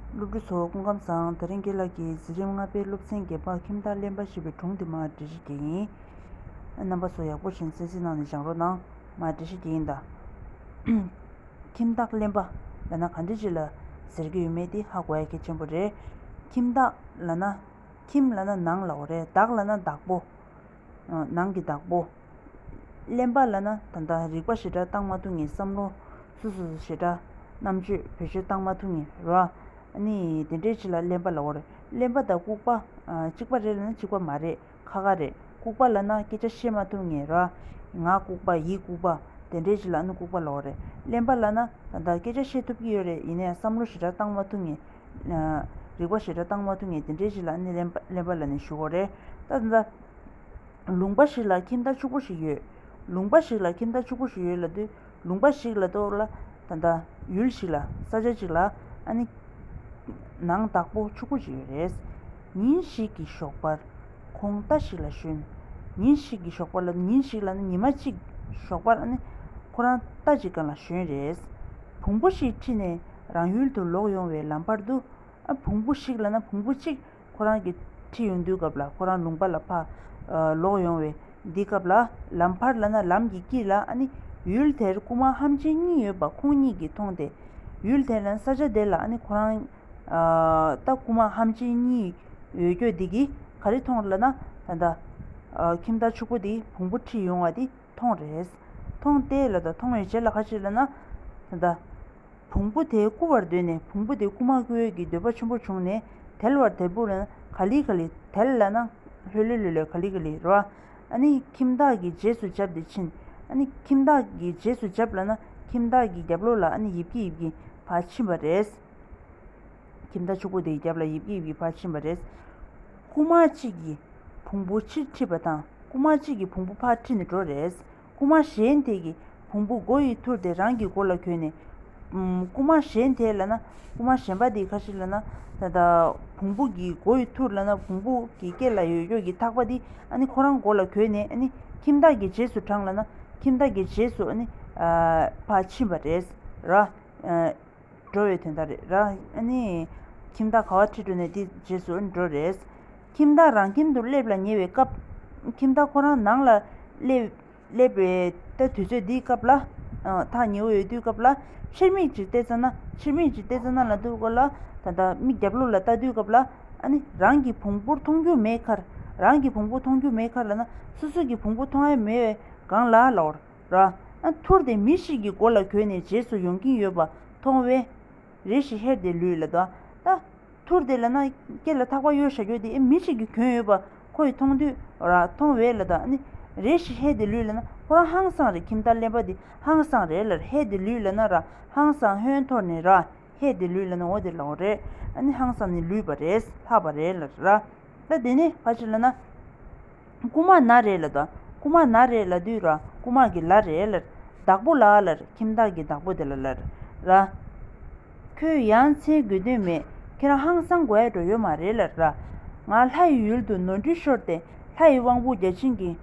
སློབ་ཕྲུག་ཚོ་སྐུ་ཁམས་བཟང། དེ་རིང་དགེ་ལགས་ཀྱིས་འཛིན་རིམ་ལྔ་པའི་སློབ་ཚན་བརྒྱད་པ་ཁྱིམ་བདག་གླེན་པ་ཞེས་པའི་དྲུང་དེ་མ་འབྲི་ཤེས་ཀྱི་ཡིན། རྣམ་པ་ཚོ་ཡག་པོ་བཞིན་གསལ་གསལ་གནང་ནས་སྦྱངས་རོགས་གནང། མ་འབྲི་ཤེས་ཀྱི་ཡིན་ད། ཁྱིམ་བདག་གླེན་པ། ལ་ན་ག་འདྲི་བྱེད་ལ། ཟེར་གྱི་ཡོད་མེད་དེ་ཧ་གོ་ཡ་གལ་ཆེན་པོ་རེད། ཁྱིམ་བདག། ལ་ན། ཁྱིམ་ལ་ན་ནང་ལའོ་རེད་བདག་ལ་ན་བདག་པོ། ནང་གི་བདག་པོ། གླེན་པ་ལ་ན་ད་ད་རིག་པ་ཞེ་དྲག་གཏང་མ་ཐུབ་ངེས་བསམ་བློ། སུ་སུ་ཞེ་དྲག་རྣམ་དཔྱོད་བེད་སྤྱོད་གཏང་མ་ཐུབ་ངེས་རོ། ནི་དེ་འདྲའི་ཆེ་ལ་གླེན་པ་ལ་འོ་རེད་གླེན་པ་དང་ལྐུག་པ། གཅིག་པ་རེད་ལ་ན་གཅིག་པ་མ་རེད་ཁ་ཁ་རེད་ལྐུག་པ་ལ་ན་སྐད་ཆ་བཤད་མ་ཐུབ་ངེས་རོ། ངག་ལྐུག་པ་ཡིད་ལྐུག་པ། དེ་འདྲའི་ཆེ་ལ་ཨ་ནུ་ལྐུག་པ་ལ་འོ་རེད་གླེན་པ་ལ་ན་ད་ད་སྐད་ཆ་བཤད་ཐུབ་ཀྱི་ཡོད་རེད་ཡིན་ནའི་བསམ་བློ་ཞེ་དྲག་གཏང་མ་ཐུབ་ངེས། རིག་པ་ཞེ་དྲག་གཏང་མ་ཐུབ་ངེས་དེ་འདྲའི་ཞིག་ལ་སྣེ་ལེན་པ་ལ་ནི་ཞུ་བ་རེད། ལྟ་ན། ལུང་པ་ཞིག་ལ་ཁྱིམ་བདག་ཕྱུག་པོ་ཞིག་ཡོད། ལུང་པ་ཞིག་ལ་ཁྱིམ་བདག་ཕྱུག་པོ་ཞིག་ཡོད་ལ་དུས་ལུང་པ་ཞིག་ལ་གཏོགས་ལ། ད་ལྟ། ཡུལ་ཞིག་ལ། ས་ཆ་ཅིག་ལ། ཨ་ནི། ནང་བདག་པོ་ཕྱུག་པོ་ཞིག་ཡོད་རེད། ཉིན་ཞིག་གི་ཞོགས་པར། ཁོང་རྟ་ཞིག་ལ་ཞོན། ཉིན་ཞིག་གི་ཞོགས་པར་ལ་ཉིན་ཞིག་ལ་ནི་ཉི་མ་གཅིག་ཞོགས་པར་ཨ་ནི། ཁོ་རང་རྟ་གཅིག་ག་ལ་ཞོན་རེད། བུང་བུ་ཞིག་ཁྲིད་ནས། རང་ཡུལ་དུ་ལོག་ཡོང་བའི་ལམ་བར་དུ། བོང་བུ་ཞིག་ལ་ན་བོང་བུ་གཅིག་ཁོ་རང་གི་ཁྲི་ཡོང་དུས་སྐབས་ལ་ཁོ་རང་ལུང་པ་ལ་ཕ། ལོག་ཡོང་བའི་འདི་སྐབས་ལ་ལམ་བར་ལ་ན་ལམ་གྱི་དཀྱིལ་ལ་ནི། ཡུལ་དེར་རྐུན་མ་ཧམ་ཆེན་གཉིས་ཡོད་པ་ཁོང་གཉིས་ཀྱིས་མཐོང་སྟེ། ཡུལ་དེར་ན་ས་ཆ་དེ་ལ་ནི་ཁོ་རང། ད་རྐུན་མ་ཧམ་ཆེན་གཉིས་ཡོད་ཁྱོད་འདི་གིས་ག་རེ་མཐོང་ལ་ན། ད་ལྟ། ཁྱིམ་བདག་ཕྱུག་པོ་དེས་བོང་བུ་ཁྲི་ཡོང་བ་འདི་མཐོང། རེད་མཐོང་སྟེ་ལ་ད་མཐོང་བའི་རྗེས་ལ་ཁ་ཅིག་ལ་ན། ད་ལྟ། བོང་བུ་དེ་རྐུ་བར་འདོད་ནས་བོང་བུ་དེ་རྐུ་མ་རྐུ་འོས་ཀྱི་འདོད་པ་ཆེན་པོ་བྱུང་ནས་དལ་བར་དལ་བུར་ན་ག་ལི་ག་ལི་དལ་ལ་ན་ལྷོད་ལྷོད་ལྷོད་ལྷོད་ག་ལི་ག་ལི་རོ། ནི་ཁྱིམ་བདག་གི་རྗེས་སུ་བཅབས་ཏེ་ཕྱིན། ནི་ཁྱིམ་བདག་གི་རྗེས་སུ་བཅབས་ལ་ན་ཁྱིམ་བདག་གི་རྒྱབ་ལོགས་ལ་ནི་ཡིབ་ཀྱིས་ཡིབ་ཀྱིས་བ་ཕྱིན་པ་རེད། ཁྱིམ་བདག་ཕྱུག་པོ་དེའི་རྒྱབ་ལ་ཡིབ་ཀྱིས་ཡིབ་ཀྱིས་བ་ཕྱིན་པ་རེད། རྐུ་མ་གཅིག་གིས་བོང་བུ་ཕྱིར་ཁྲིད་པ་དང་རྐུ་མ་གཅིག་གིས་བོང་བུ་ཕར་ཁྲིད་ནས་འགྲོ་རེད། རྐུན་མ་གཞན་དེ་གི་བུང་བུ་མགོ་ཡི་ཐུར་དེ་རང་གི་མགོ་ལ་གྱོན་ནས། རྐུན་མ་གཞན་དེ་ལ་ན་རྐུན་མ་གཞན་པ་དེ་ཁ་ཤི་ལ་ན། ད་ད། བུང་བུ་གི་མགོ་ཡི་ཐུར་ལ་ན་བུང་བུ་གི་སྐེ་ལ་ཡོད་ཡོད་ཀྱི་ཐག་པ་དེ་ཨ་ནི་ཁོ་རང་མགོ་ལ་གྱོན་ནས་ཨ་ནི་ཁྱིམ་བདག་གི་རྗེས་སུ་འབྲངས་ལ་ན་ཁྱིམ་བདག་གི་རྗེས་སུ་ཨ་ནི། ཕ་ཕྱིན་པ་རེད། ར། འགྲོ་བའི་དོན་དག་རེད་ར། ཨ་ནི། ཁྱིམ་བདག་ག་བ་ཁྲི་འགྲོ་ནས་དེ་རྗེས་སུ་ཨ་ནི་འགྲོ་རེད། ཁྱིམ་བདག་རང་ཁྱིམ་དུ་སླེབས་ལ་ཉེ་བའི་སྐབས། ཁྱིམ་བདག་ཁོ་རང་ནང་ལ་སླེབས། པའི་ལྟ་དུས་ཚོད་འདིའི་སྐབས་ལ། ཐག་ཉེ་བོ་ཡོད་དུས་སྐབས་ལ། ཕྱིར་མིག་ཅིག་བལྟས་ཙང་ན། ཕྱིར་མིག་ཅིག་བལྟས་ཙང་ན་ལ་འདུག་ལ། ད་ལྟ་མིག་རྒྱབ་ལོགས་ལ་ལྟ་དུས་སྐབས་ལ། རང་གི་བོང་བུར་མཐོང་རྒྱུ་མེད་ཁར། རང་གི་བོང་བུ་མཐོང་རྒྱུ་མེད་ཁར་ལ་ན། སོ་སོ་གི་བོང་བུ་མཐོང་ཨེ་མེད་བས་གང་ལ་ལ་འོར། ར། ཐུར་དེ་མི་ཞིག་གི་མགོ་ལ་གོན་ནས་རྗེས་སུ་ཡོང་གིན་ཡོད་པ་མཐོང་བས། རེ་ཞིག་ཧེར་ཏེ་ལུས་ལ་བལྟ། ཐུར་དེ་ལ་ན་སྐེ་ལ་ཐག་པ་གཡོ་ཞེས་བརྗོད་དེ་མི་གཅིག་གི་གྱོན་ཡོད་པ་ཁོ་ཡིས་མཐོང་དུས། མཐོང་བས་ལ་དང། རེ་ཞིག་ཧེ་དེ་ལུས་ལ་ན་ཁོ་རང་ཧང་སང་རེད་ཁྱིམ་བདག་ལེན་པ་དེ་ཧང་སང་རེད་ལར་ཧེ་དེ་ལུས་ལ་ན་ར་ཧང་སང་ཧོན་ཐོར་ནས་ར་ཧེ་དེ་ལུས་ལ་ན་འོ་དེ་ལོག་རེད། ཧང་སང་ནས་ལུས་པ་རེད་ལྷག་པ་རེད་ལར་ར། ད་དེ་ནས་ཕ་ཕྱི་ལ་ན། རྐུ་མ་ན་རེ་ལ་དང་རྐུ་མ་ན་རེ་ལ་དུས་ར་རྐུ་མ་གི་ལ་རེ་ལར། བདག་པོ་ལ་ལར་ཁྱིམ་བདག་གི་བདག་པོ་དེ་ལ་ལར། ར། ཁོས་ཡང་མཚན་དགོས་དོན་མེད་ཁེར་ཧང་སང་དགོད་འགྲོ་ཡོད་མ་རེད་ལར། ང་ལྷ་ཡི་ཡུལ་དུ་ནོར་འཁྲུལ་ཤོར་ཏེ་ལྷ་ཡི་དབང་པོ་བརྒྱ་བྱིན་གྱི།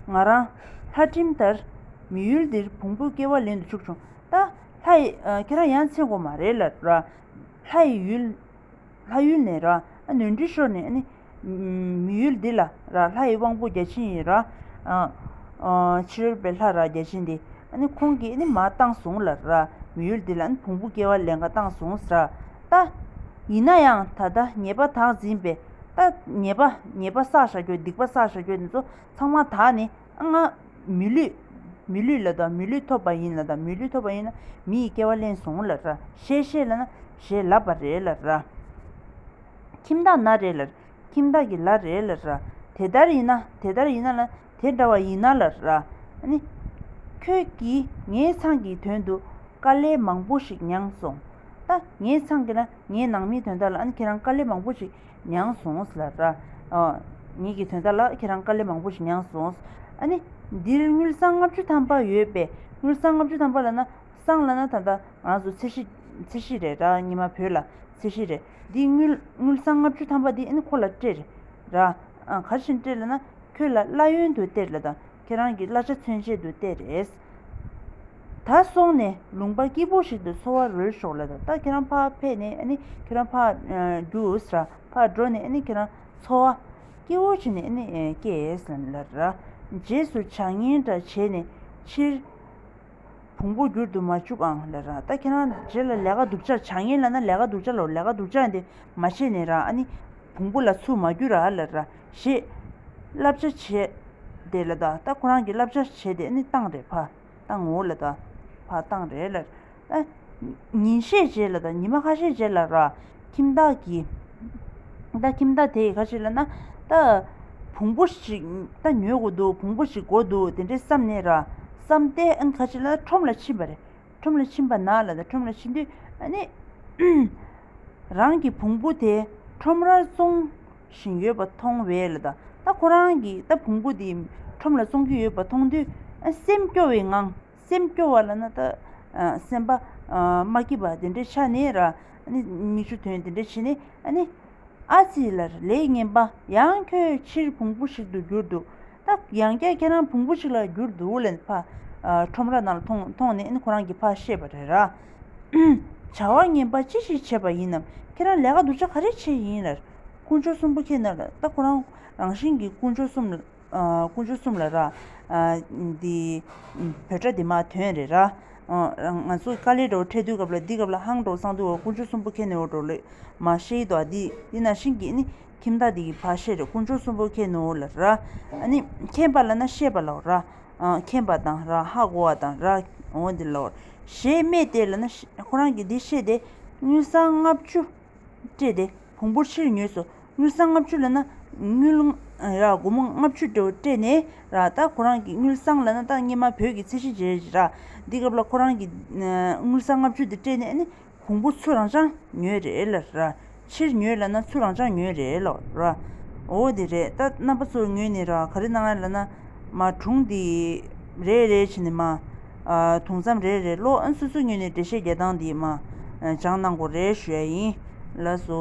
ང་རང། ལྷ་ཁྲིམས་ལྟར། མི་ཡུལ་འདིར་བོང་བུའི་སྐྱེ་བ་ལེན་དུ་ཆུག་བྱུང་ད། ལྷ། ཁྱེད་རང་ཡང་མཚན་དགོས་མ་རེད་ལར། ལྷ་ཡི་ཡུལ། ལྷ་ཡུལ་ནས་ར་ནུས་འབྲི་ཤོར་ནས་ནི། མི་ཡུལ་འདི་ལ་ར་ལྷ་ཡི་དབང་པོ་བརྒྱ་བྱིན་ཡིན། ར་ཕྱི་རོལ་པའི་ལྷ་ར་བརྒྱ་བྱིན་ཏེ། ཁོང་གིས་ནི་མ་བཏང་བཟུང་ལ་ར། མི་ཡུལ་འདི་ལ་ནི་བོང་བུ་སྐྱེ་བ་ལས་འགའ་བཏང་བཟུང་ཟ། ད། ཡིན་ན་ཡང་ད་ལྟ་ཉེས་པ་དག་འཛིན་པས། ད། ཉེས་པ་ཉེས་པ་བསགས་བྱ་ཁྱོད་སྡིག་པ་བསགས་བྱ་ཁྱོད་འདི་ཚོ་ཚང་མ་དག་ནི། ལྔ། མི་ལུས། མི་ལུས་ལ་དང་མི་ལུས་ཐོབ་པ་ཡིན་ལ་དང་མི་ལུས་ཐོབ་པ་ཡིན་ན་མི་ཡི་སྐྱེ་བ་ལན་བཟུང་ལ་ར་ཞེས་བཤད་ལ་ན་ཞེས་ལབ་པ་རེད་ལ་ར། ཁྱིམ་བདག་ན་རེ་ལ་རེ་ཁྱིམ་བདག་གི་ལ་རེ་ལ་ར་དེ་ལྟར་ཡིན་ན་དེ་ལྟར་ཡིན་ན་ལ་དེ་འདྲ་བ་ཡིན་ན་ལ་ར། ནི། ཁྱོད་ཀྱིས་ངའི་ཚང་གི་དོན་དུ་དཀའ་ལས་མང་པོ་ཞིག་མྱངས་སོང། ད་ངའི་ཚང་གི་ལ་ངའི་ནང་མིའི་དོན་དག་ལ་ཁྱེད་རང་དཀའ་ལས་མང་པོ་ཞིག་མྱངས་སོང་ལ། ངེད་ཀྱི་དོན་དག་ལ་ཁྱེད་རང་དཀའ་ལས་མང་པོ་ཞིག་མྱངས་སོང། ཨ་ནི། འདིར་དངུལ་སྲང་ལྔ་བཅུ་ཐམ་པ་ཡོད་པས་དངུལ་སྲང་ལྔ་བཅུ་ཐམ་པ་ལ་ན་སྲང་ལ་ན་ད་ལྟ་ང་ཚོ་ཚེ་ཧྲི། ཚེ་ཧྲི་རེད་ར་ཉི་མ་བོད་ལ་ཚེ་ཧྲི་རེད། འདི་དངུལ་དངུལ་སྲང་ལྔ་བཅུ་ཐམ་པ་འདི་ཨ་ནི་ཁོ་ལ་སྤྲད། ར། གར་བཞིན་སྤྲད་ལ་ན་ཁྱོད་ལ་བླ་ཡོན་དུ་སྟེར་ལ་དང་ཁྱེད་རང་གི་བླ་ཆ་མཚོན་བྱེད་དུ་སྟེར། ད་སོང་ནས་ལུང་པ་སྐྱིད་པོ་ཞིག་ཏུ་འཚོ་བ་རོལ་ཤོག་ལ། ད་ཁྱེད་རང་ཕར་ཕེབས་ནས་ཨ་ནི་ཁྱེད་རང་ཕར་རྒྱུགས་ལ། ཕར་འགྲོ་ནས་ཨ་ནི་ཁྱེད་རང་འཚོ་བ་སྐྱིད་བོ་བྱས་ནས་ཨ་ནི་སྐྱེས་ལ། རྗེས་སུ་བྱ་ངན་འདྲ་བྱས་ནས་ཕྱིར་བོང་བུ་བསྒྱུར་དུ་མ་བཅུག་ཨང། ད་ཁྱེད་རང་རྗེས་ལ་ལས་ཀ་སྡུག་ཅག་བྱ་ངན་ལ་ན་ལས་ཀ་སྡུག་ཅག་ལ་ལས་ཀ་སྡུག་ཅག་འདི་མ་བྱས་ནས་རང་ཨ་ནི་བོང་བུ་ལ་ཚུར་མ་བསྒྱུར་ཨ། ཞེས། བསླབ་བྱ་བྱེད། དེ་ལ་དང་ད་ཁོ་རང་གིས་བསླབ་བྱ་བྱེད་དེ་ནི་བཏང་རེད་ཕ། དང་ངོ་ལ་དང། ཕ་བཏང་རེད་ལ། ཨ། ཉིན་ཤས་རྗེས་ལ་དང་ཉི་མ་ཁ་ཤས་རྗེས་ལ་ར། ཁྱིམ་བདག་གིས། ད་ཁྱིམ་བདག་དེ་ཡི་ཁ་ཤས་ལ་ན། ད། བུང་བུ་ཞིག། ད་ཉོས་གོ་འདུག་བུང་བུ་ཞིག་གོ་འདུག་དེ་འདྲས་བསམ་ནས་ར། བསམ་སྟེ་ཨང་ཁ་ཤས་ལ་ཁྲོམ་ལ་ཕྱིན་པ་རེད། ཁྲོམ་ལ་ཕྱིན་པ་ན་ལ་དང་ཁྲོམ་ལ་ཕྱིན་དུས་ནི། རང་གི་བུང་བུ་དེ་ཁྲོམ་རར་བཙོང་བཞིན་ཡོད་པ་མཐོང་བས་ལ་དང་ད་ཁོ་རང་གི་ད་བུང་བུ་དེ་ཁྲོམ་ལ་བཙོང་གི་ཡོད་པ་མཐོང་དུས་སེམས་སྐྱོ་བའི་ངང་སེམས་སྐྱོ་བ་ལ་ན་ད་སེམས་པ་མ་སྐྱིད་པ་དེ་འདྲའི་ཆ་ནས་ར་ནི་མིག་ཆུ་དོན་དེ་འདྲའི་བྱེད་ནས་ནི། ཨ་ཙི་ལར་ལེགས་ཉེས་འབའ་ཡང་ཁྱོད་ཕྱིར་བུང་བུ་ཞིག་ཏུ་གྱུར་འདུག་ད་ཡང་བསྐྱར་ཁྱེད་རང་བོང་བུ་ཞིག་ལ་གྱུར་འདུག་ལན། ཕ། ཁྲོམ་ར་ནང་ལ་ཐོངས་ཐོངས་ནས་ཨིན་ཁོ་རང་གི་ཕ་ཤེས་པ་རེད། ར། བྱ་བ་ངན་པ་ཅི་ཞིག་བྱས་པ་ཡིན་ནམ། ཁྱེད་རང་ལས་ཀ་སྡུག་ཅག་ག་རེ་བྱས་ཡིན། ར། དཀོན་མཆོག་གསུམ་པོ་ཁྱེད་ན་རེ། ད་ཁོ་རང་རང་བཞིན་གྱིས་དཀོན་མཆོག་གསུམ། དཀོན་མཆོག་གསུམ་ལ་ར། འདི། བོད་སྒྲ་འདི་མ་དོན་རེད། ར། ང་ཚོ་དཀའ་ལས་འགྲོ་འཕྲད་དུས་སྐབས་ལ་འདི་སྐབས་ལ་ཧང་འགྲོ་སང་དུས་འོ་དཀོན་མཆོག་གསུམ་པོ་ཁྱེད་ནི་འོ་འགྲོ་ལོས་མ་ཤེས་ཏོ་ཨ། འདི་ན་བཞིན་གྱིས་ནི། ཁྱིམ་བདག་དེ་ཡི་བ་ཤེས་རེ་དཀོན་མཆོག་གསུམ་པོ་ཁྱེད་ནུ་བོ་ལ་ར། ཁྱེད་པ་ལ་ན་ཤེས་པ་ལ་ར། ཁྱེད་པ་དང་ར་ཧ་གོ་བ་དང་ར་འོ་དེ་ལ་ཞེས་སྨྲས་ཏེ་ལ་ན་ཁོ་རང་གིས་དེ་ཤེས་ཏེ་དངུལ་སྲང་ལྔ་བཅུ་སྤྲད་དེ་བོང་བུར་ཕྱིར་ཉོས་སོ་དངུལ་སྲང་ལྔ་བཅུ་ལ་ན་དངུལ་ར་སྒོར་མོ་ལྔ་བཅུ་སྤྲད་ནས་ར་རྟ་ཁོ་རང་གི་དངུལ་སྲང་ལ་ན་རྟ་སྙེ་མ་བོད་ཀྱི་ཚད་གཞི་བྱས་ར་འདི་སྐབས་ལ་ཁོ་རང་གིས་དངུལ་སྲང་ལྔ་བཅུ་དེ་སྤྲད་ནས་གོང་བུ་ཆུ་རང་ཆང་ཉོས་རེད་ལ་ར། ཕྱིར་ཉོས་ལ་ན་ཆུ་རང་ཆང་ཉོས་རེད་ལ་ར། འོ་དེ་རེད་ད་རྣམ་པ་ཚོ་ངོས་ནས་ར་ག་རེ་གནང་ཡ་ལ་ན། མ་གྲུང་དེ། རེད་རེད་བྱས་ནས་མ། དུང་མཚམས་རེད་རེད་ལོ་ཨ་སུ་སུ་ངོས་ནས་འགྲེལ་བཤད་རྒྱལ་ཐང་དེ་མ། སྦྱང་གནང་གོ་རེ་ཞུ་ཡ་ཡིན། ལ་སོ།